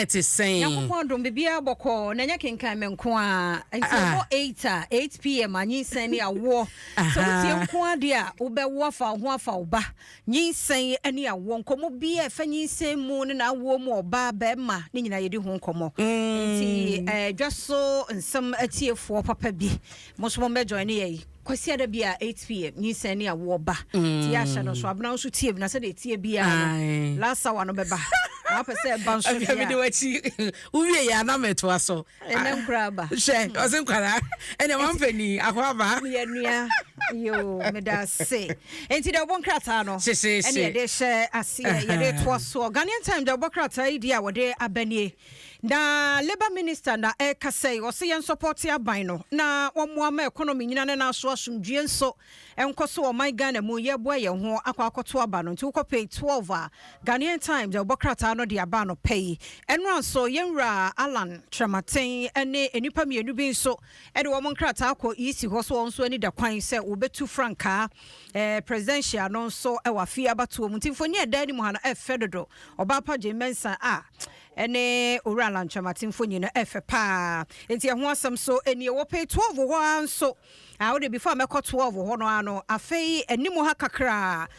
ɛte sɛn? Nyankopɔn dom biribiara bɔkɔɔ na ɛnyɛ kenkan me nko a nti ɛbɔ ah. eight a eight pm a nyinsɛn ne awoɔ sɛ wotie nko adeɛ a wobɛwo afa wo ho afa wo ba nyinsɛn ne awoɔ nkɔmmɔ bi a ɛfa nyinsɛn mu ne na awoɔ mu ɔbaa bɛrima ne nyinaa yɛdi ho nkɔmmɔ nti mm. eh, dwa so nsɛm atiefoɔ papa bi mo nso mo mmɛjoin ne yɛ yi Kwasiada bi a 8pm nyinsɛn ne awoɔ ba nti yɛ ahyɛ no nso abena nso tie bi na sɛdeɛ ɛtie biara no Aye. last hour no bɛba na wapɛ sɛ ɛba nso deɛ mede wakyi wowie yɛ ana mɛtoa so ɛnɛ nkora aba hwɛ ɔse nkwara ɛnɛ wampani akɔ aba meyɛ nua yo meda se enti deɛ wɔbɔ nkrataa no ɛne yɛde hyɛ aseɛ yɛde toa soɔ Ghanaian time deɛ wɔbɔ krataa yi deɛ a wɔde abanie Na labour minister na ɛrekasa yi, ɔse yɛn sɔpɔte aban no na wɔmmoa ma economy nyina ne nan so asomdwie nso nkɔ so wɔ ɔman Ghana mu, yɛreboa yɛn ho akɔ akɔto aba no nti wokɔ page 12 a Ghanaian Times ɛbɔ krataa no de aba anɔpa yi. Ɛno ara nso yɛn wura Allan Kyerematen ne nnipa mmienu bi nso de wɔn nkrataa kɔ EC hɔ so wɔn nso ani da kwan sɛ wɔbɛtu frankaa eh, presidential no nso wɔ afei abatoɔ mu nti mfoni a ɛda anim ha no ɛfɛ dodo ɔbaa pa gye mɛnsa a ah, ɛne owura lantwamate mfoni no ɛfɛ paa nti ɛho asɛm so ɛni ɛwɔ pay 12 hɔ ara nso a ah, wode before mɛkɔ 12 hɔ no ano afei anim ha kakraa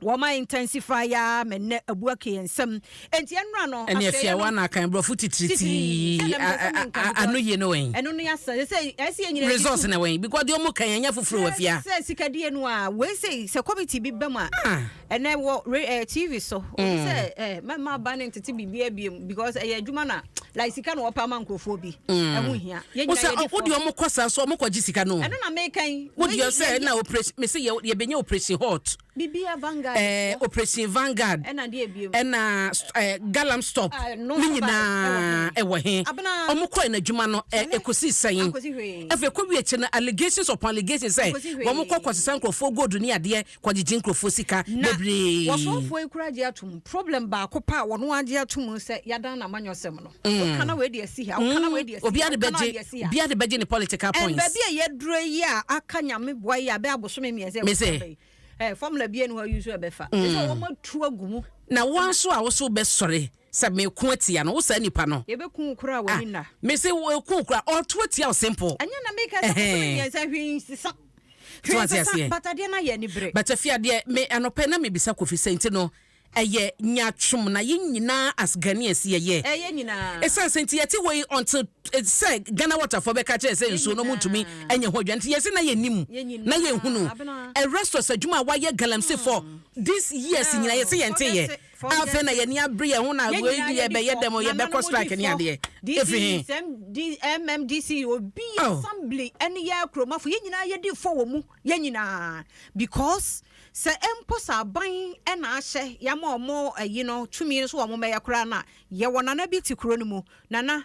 Wɔma intensify ya me nɛ abu ake yɛn nsam. Enti ɛnora no asɛyɛ no. Ɛne afia wa na akan brɔfo titiritii ano yie no wɛn. Ɛno ne asa sɛ ɛsi yɛ nyina. Resource na wɛn because deɛ ɔmo kan ɛnyɛ foforo wɔ afia. Sɛ sikadie no a wei sɛ sɛ committee bi bɛm a ɛnɛ wɔ TV so. Sɛ mɛma ba ne ntete biribi abiem. because ɛyɛ adwuma na like sika na wɔpa ama nkurɔfoɔ bi mm. ɛho hia wosɛ wode ɔmo kɔ saa so ɔmo kɔgye sika no ɛno na mekan wodeɛ sɛ na operation mese yɛbɛnya operation hot bibia vanguard eh, operation vanguard ɛna deɛ ebiem ɛna eh, galam stop ah, ne nyinaa ɛwɔ he ɔmo kɔɛ n'adwuma no ɛkɔsi eh, sɛn afei kɔwie kyɛ no allegations upon allegations sɛ wɔn kɔ kɔsesa nkurɔfoɔ gold ne adeɛ kɔ gyegye nkurɔfoɔ sika bebree. Na wɔsɔɔfoɔ yi koraa gye atom, problem baako pɛ a wɔn ara gye atom ne sɛ yɛadan no amanyɔsɛm no. Woka na wei de asi ha, woka na wei de asi ha, woka na wei de asi ha. Obiara de bɛgye ne political points. And baabi a yɛaduro yi a aka nyame boa yi a bɛyɛ abosome mmiɛnsa ɛwɔ sɛ bɛyi. Eh, formula bie ni hɔ a use ɛbɛfa. Ɛsɛ wɔn atu agu mu. Na wɔn nso a wɔso bɛsɔre. Sɛ meko atia no, wo saa nipa no. Yɛbɛku wo koraa w'ani nna. Ah, mese wɔku wo koraa, ɔɔto atia wo simple. Ɛnyɛ na meka sɛ kɔkɔ no mmiɛnsa hwee nsesa. Hwee nsesa, but adeɛ no ayɛ anibere. But afei adeɛ, me anɔpa yi na mebisa Kofi sɛ nti no ɛyɛ nyaatwom na yɛn nyinaa as Ghanaians yɛyɛ. Ɛyɛ yɛn nyinaa. Ɛsiane sɛ nti yɛte hɔ yi until eh, sɛ Ghana waterfoɔ bɛka kyerɛ sɛ nsuo no ɔmontumi anya ho adwuma nti yɛse na yɛnim Yɛn nyinaa. na yɛnhunu. Abena. A restaurant adwuma a wayɛ Galamsey for these years nyinaa yɛse yɛnteeɛ. Ɔbɛte. Afei na yɛn ani abere yɛn ho na wei de yɛbɛyɛ dɛm o, yɛbɛkɔ strike ne adeɛ. Ɛfiri he? MMDC, obi yɛ assembly ne yɛ akuromafo, yɛn nyinaa yɛdi fɔ wɔ mu, yɛn nyinaa. Because sɛ mpo sɛ aban na ahyɛ yɛama wɔn ayi no, tumi no so wɔn mmɛyɛ koraa no a, yɛwɔ nana bi te kuro no mu, nana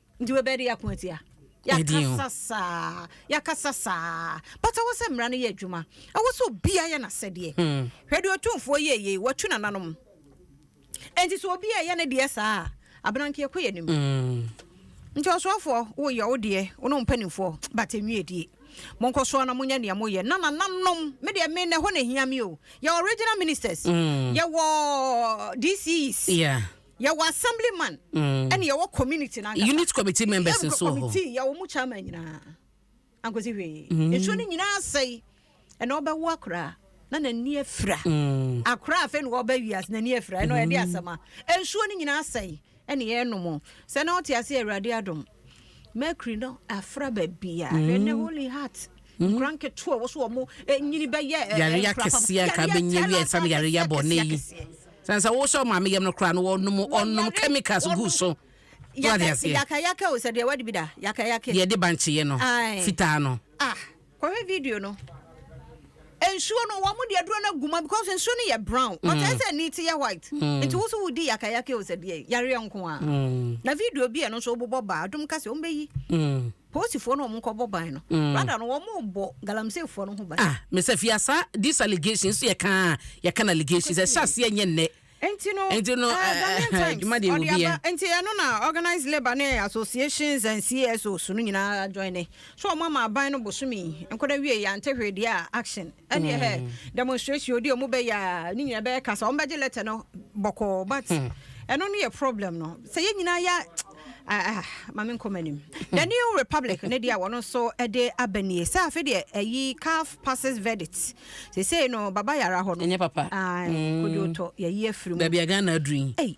nti wobɛyɛ de yɛako atia yɛakasa saa yɛakasa saa but ɛwɔ sɛ mmara no yɛ adwuma ɛwɔ sɛ obia yɛ n'asɛdeɛ hmm. hwɛ deɛ ɔtumfoɔ yɛyei watu nananom ɛnti sɛ obi ɛyɛ ne deɛ saa a abenankeɛ kɔ yɛ nim hmm. nti ɔsoafoɔ woyɛ wo deɛ wo ne mpanimfoɔ but ɛnwie die monkɔ soɔ na monyɛ nea moyɛ na nananom me deɛ me na ɛhɔ na ɛhia me o yɛwɔ regional ministers mm. yɛwɔ dcs yeah. Yɛwɔ assemblyman ɛna yɛwɔ community nankasa. Unit committee members nso wɔ hɔ. Committee yɛwɔ mu chairman nyinaa. Ankosi hwee. Mm. Nsuo no nyinaa asɛe. Ɛna ɔbɛwo akora na n'ani afira. Mm. Akora afei na ɔbɛ wiase n'ani afira. Ɛna ɔyɛde mm. asɛm a. Nsuo no nyinaa asɛe. Ɛna yɛnom. Sɛ na ɔte ase awurade adom. Mercury no afra baabi a. Ɛna holy heart. Nkra nketewa a wɔso wɔn nyini bɛyɛ eh, yare ya kɛseɛ nka bɛnyɛ wia ɛsam yare ya bɔ ne yi sane sɛ wosɛ ɔma me yam no koraa no wɔnom ɔnom chemicals gu so yakayaka o sɛ deɛ wadi bi da yakayake deɛ de bankyeɛ no fitaa no ah kɔhwɛ video no nsuo no wɔn de aduro no aguma because nsuo no yɛ brown mm. ɔtɛ sɛ ni ti yɛ white mm. nti woso wodi yakayaka o sɛ deɛ yareɛ nko a mm. na video bi a ɛno nso wobobɔ baa adom kasa wɔn bɛyi Posifoɔ no wɔn nkɔ bɔ ban no. Mm. Rather no wɔn bɔ galamseyfoɔ no ho ban. Ah, Mr. Fiasa, this allegation nso yɛ kan a yɛ kan allegations. Ɛhyɛ aseɛ nyɛ nnɛ. Nti no, nti no, uh, Ghanaian Times, ɔde aba, nti ɛno na organized labor ne associations and CSOs no nyinaa join ne. So wɔn ama aban no bosomi, nkɔda wie yɛ ante hwee deɛ a action. ɛne ɛhɛ hmm. demonstration odi ɔmo bɛyɛ a ne nyinaa bɛyɛ kasa ɔmo bɛgye letter no bɔkɔɔ but hmm. ɛno no yɛ problem no sɛ yɛn nyinaa yɛ ah, ah, maame nkɔm anim hmm. the new republic ne deɛ wɔn nso de aba nie sɛ afei deɛ ɛyi calf passes verdict sesei no baba yara hɔ no ɛnyɛ papa ah, kodwo tɔ yɛyi afiri mu baabi a ghana aduru yi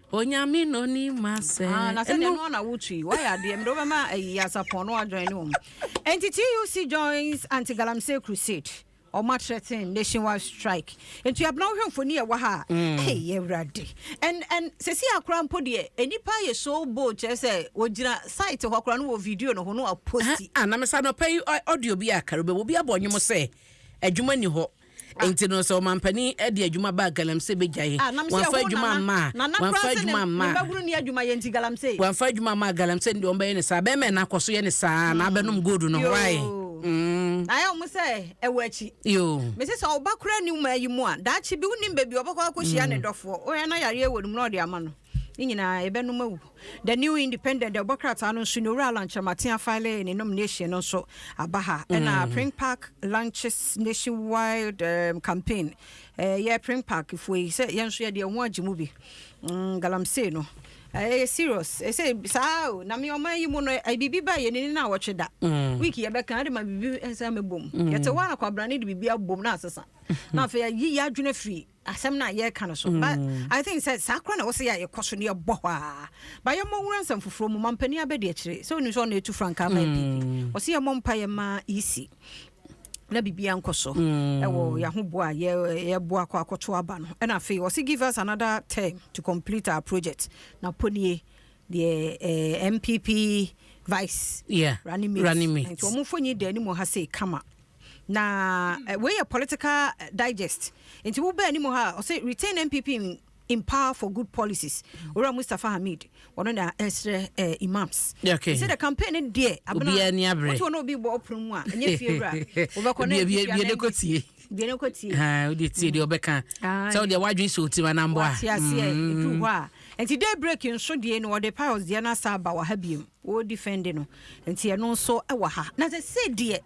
Onyame na onim asɛ. Ah, na sɛdeɛ ɛno na wotui wayɛ adeɛ mede wobɛma ayi asapɔn no adwan ne wɔm nti tuc joins anti galamsey crusade ɔma threaten nationwide strike nti abena wohwɛ mfoni ɛwɔ ha a mm. hey, yɛwurade and and sɛsi akora mpo deɛ nnipa ayɛ so bold kyerɛ sɛ wɔgyina site hɔ akora no wɔ video no ho no aposti anamesa ah, ah, nɔpɛ yi audio bi akara bɛwɔ bi abɔ nnwom sɛ adwuma ni hɔ Enti no, sɛ ɔmampanin de adwuma baa galamsey bɛgyae. Ah, nam sɛ Wɔamfa ɛho adwuma nana. amma a. Nana Wɔamfa koraa sɛ ne adwuma amma ne a. mmabunu nni adwuma yɛ nti galamsey. Wɔamfa adwuma amma a, galamsey no deɛ wɔbɛyɛ no saa. Bɛrima nana kɔ so yɛ no saa ara na abɛnom gold no. Why? Yoo. Mm. Na ayɛ wɔn sɛ ɛwɔ akyi. Yoo. Mese sɛ wo ba koraa nni wo man yi mu a, daakye bi wonim baabi a ɔbɛkɔ akɔhyia ne dɔfoɔ. Wohwɛ na yareɛ wɔ ne mu na ɔde ama no. ne nyinaa yɛbɛnom awu. The New Independent deɛ ɔbɔ krataa no nso ne Owura Alan Kyerematen afile ne nomination no nso aba ha ɛna mm. Pring Park launches nationwide um, campaign eh, yɛ Pring Park foɔ yi sɛ yɛn nso yɛde ɛho agye mu bi mm, galamsey no ɛyɛ eh, serious ɛsɛ eh, saa o na me ɔman yi mu no eh, biribi ba yɛ nini na awɔtwe da mm. week yɛbɛka de ma biribi nsa mɛbom mm. yɛte hɔ a na kwabrane de biribi abom na asesa na afei yɛyi yɛ adwene firi asɛm no a yɛreka no so mm. but i think sɛ saa koraa na wɔsɛ yɛ a yɛkɔ so ne yɛbɔ hɔ a ba yɛmmɔ nwura nsɛm foforɔ mu mampanin abɛdi akyire sɛ ɔnim sɛ ɔna ɛtu frankaa ma ɛpipi mm. ɔsɛ yɛmmɔ mpa yɛ ma isi na biribi ankɔ so mm. ɛwɔ yɛahoboa a yɛboa kɔ akɔto aba no ɛna afei ɔsɛ give us another term to complete our project na ponie deɛ eh, mpp vice yeah, running mate nti ɔmofo nyi da anim ha sei kama Na wei yɛ political digest nti wo bɛ anim ha ɔsɛ retain NPP in, in power for good policies owura Mustafa Hamid ɔno na ɛsrɛ eh, imams okay. sɛ the campaign ne deɛ abena obiara ni abrɛ wotu ɔno obi bɔ ɔpono mu a ɛnyɛ fie wura wobɛkɔ na ɛfie wura na ɛkɔ tie deɛ ne kɔ tie ah wode tie deɛ ɔbɛka sɛ wodeɛ wadwen sɛ ɔtim anambɔ a wate aseɛ ɛdu hɔ a nti day break nso deɛ no ɔde piles deɛ no asa aba wɔ ha biom wɔdi fɛnde no nti ɛno nso ɛwɔ ha na sɛ sɛ deɛ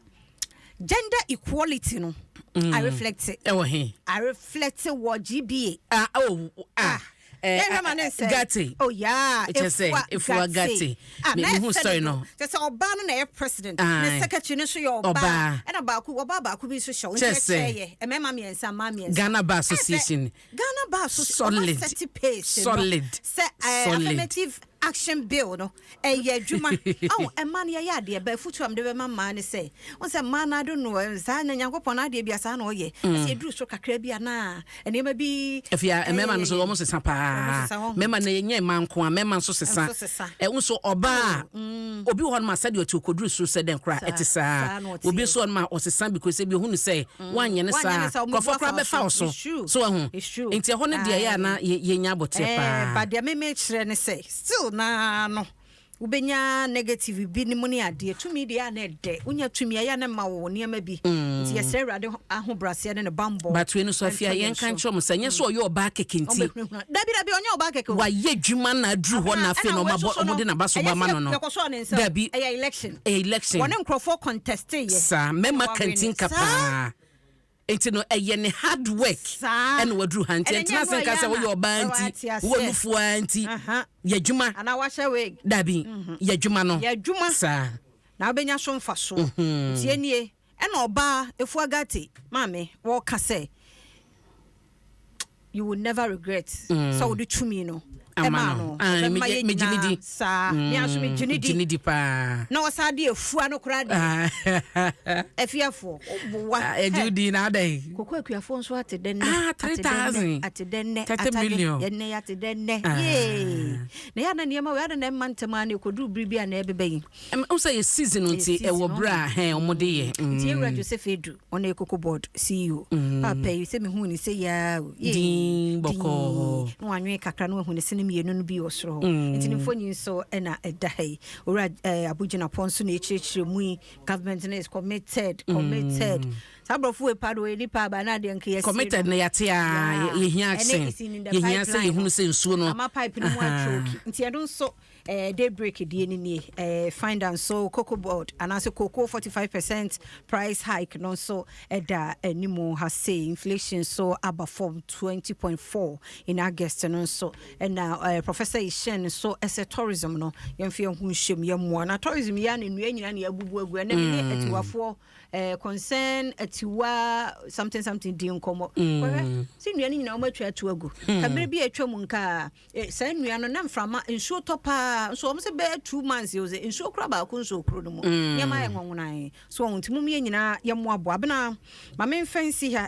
Gender equality no mm. I reflect it. Ɛwɔ he. I reflect it wɔ GBA. Ah oh ah. ah. Eh, yɛn hwɛ ma ne nsɛ gate oh yeah efua efua gate ah, na ehu story no kyɛ sɛ ɔbaa no na ɛyɛ president ah, ne eh. secretary no nso yɛ ɔbaa ɛna baako ɔbaa baako bi nso hyɛ wɔn nkyɛn kyɛ yɛ mmarima mmiɛnsa mmaa mmiɛnsa Ghana Bar Association Ghana Bar so sɛ ɔma Solid. sɛte pace no Solid. sɛ ɛɛ Solid. affirmative action bill no ɛyɛ adwuma awo ɛma no yɛyɛ adeɛ bɛ afutuo a mede bɛma mmaa ne sɛ wɔn sɛ mmaa no ado no ɛm, saa na nyankopɔn no adeɛ bi a saa na ɔyɛ ɛsɛ ɛduru so kakra bi a na nneɛma bi afei a ɛyɛ mmarima no nso yɛyɛ wɔn sesa wɔn paa sesa wɔn ho mmarima no yɛnyɛ mmaa nko a mmarima nso sesa Nso sesa. ɛwo nso ɔbaa a obi wɔ hɔ nom a sɛdeɛ ɔte okoduru so sɛ dɛn koraa Saa- ɛte saa saa na ɔteɛ. obi nso wɔ nom a ɔsesa because ebi ohunu sɛ Woanyɛ no saa a, nkurɔfoɔ koraa bɛfa wo so. So woahu? Enti ɛhɔ no deɛ ɛyɛ a na yɛnya aboterɛ pa ara. But deɛ me mekyerɛ ne sɛ, still no ara no, wobɛnya negative bi no mu ne adeɛ. Tumi deɛ ɛyɛ a na ɛdɛ. Wonya tumi a, ɛyɛ a na ɛma wo nneɛma bi. Nti yɛsrɛ Awurade ahobrɛaseɛ ne ne bammɔ. But wei no nso, afei a yɛnka nkyerɛ wɔn sɛ, nyɛ sɛ ɔyɛ ɔbaa kɛkɛ nti. Dabi, dabi, ɔnyɛ ɔbaa kɛkɛ o. Wayɛ adwuma na aduru hɔ na afei na wɔde n'abaso ba ma no no. Dabi, ɛyɛ election. Wɔne nkurɔfoɔ conteste yɛ. Saa, mmarima kantinka paa. Nti no, ɛyɛ ne hard work na waduru ha. Nti ɛntena ase nka sɛ woyɛ ɔbaa nti, wowɔ nufoɔ ara nti. Yɛ adwuma. Dabi, yɛ adwuma no. Saa. Na wobɛnya so mfasoɔ. Nti ɛnie. Ɛna ɔbaa Efuagate maame wɔka sɛ you will never regret mm. sɛ wode tumi no ɛmaa no ɛbɛma yɛ nyinaa saa mm. mea nso megye ne di na ɔsaa de afua no koraa de afiafoɔ woboa ɛgye wodi na adɛn koko akuafoɔ nso ate dɛ nnɛ ah, ate dɛ nnɛ yɛnnɛ yɛate dɛ nnɛ ah. yee na yɛ ana nneɛma wei ada na ɛma ntɛm a na ɛkɔduru bere bi a na ɛbɛbɛ yi Ɛm wo sɛ yɛ season no nti ɛwɔ berɛ a hɛn ɔmo de yɛ mm. Nti yɛwura Joseph Adu ɔno yɛ Cocoa Board CEO mm. paapa yi sɛ mehuu ne sɛ yaa o yee din bɔkɔɔ na wanwene kakra na wahu ne sene mmienu no bi wɔ soro hɔ mm. nti ne mfoni nso ɛna ɛda ha yi owura eh, abogyinapɔ nso na ɛkyerɛkyerɛ mu yi government no is committed mm. committed mm. saa borɔfo wei pa do ɔyɛ nipa aba na adeɛ nka yɛsere committed na yɛate a yɛhia sɛ yɛhia sɛ yɛhunu sɛ nsuo no ama pipe no mu atwɛ oki nti ɛno nso Eh, day break deɛ no nie. Eh, find and so cocoa board anaasɛ cocoa 45 percent price hike no nso ɛda anim ha se inflation so aba fam 20.4 in august no nso ɛna eh, professor ishen nso ɛsɛ tourism no yɛmfa yɛn ho nhyɛm yɛmmoa na tourism yɛ a na nnua nyina ne abubu agu ɛnɛ mene mm. atiwafoɔ eh, concern atiwa something something di nkɔmmɔ mm. kɔhwɛ sɛ nnua no nyina wɔmatwa ato agu mm. kamere bi atwa mu nkaa Eh, saa nnua no na mframa nsuo tɔ paa nso wɔn sɛ bɛyɛ two months yɛ sɛ nsuo kura baako nsuo kuro no mu mm. nneɛma yɛ nwonwonan so wɔn nti mu yɛ nyinaa yɛ mmoaboa abena maame nfɛn si ha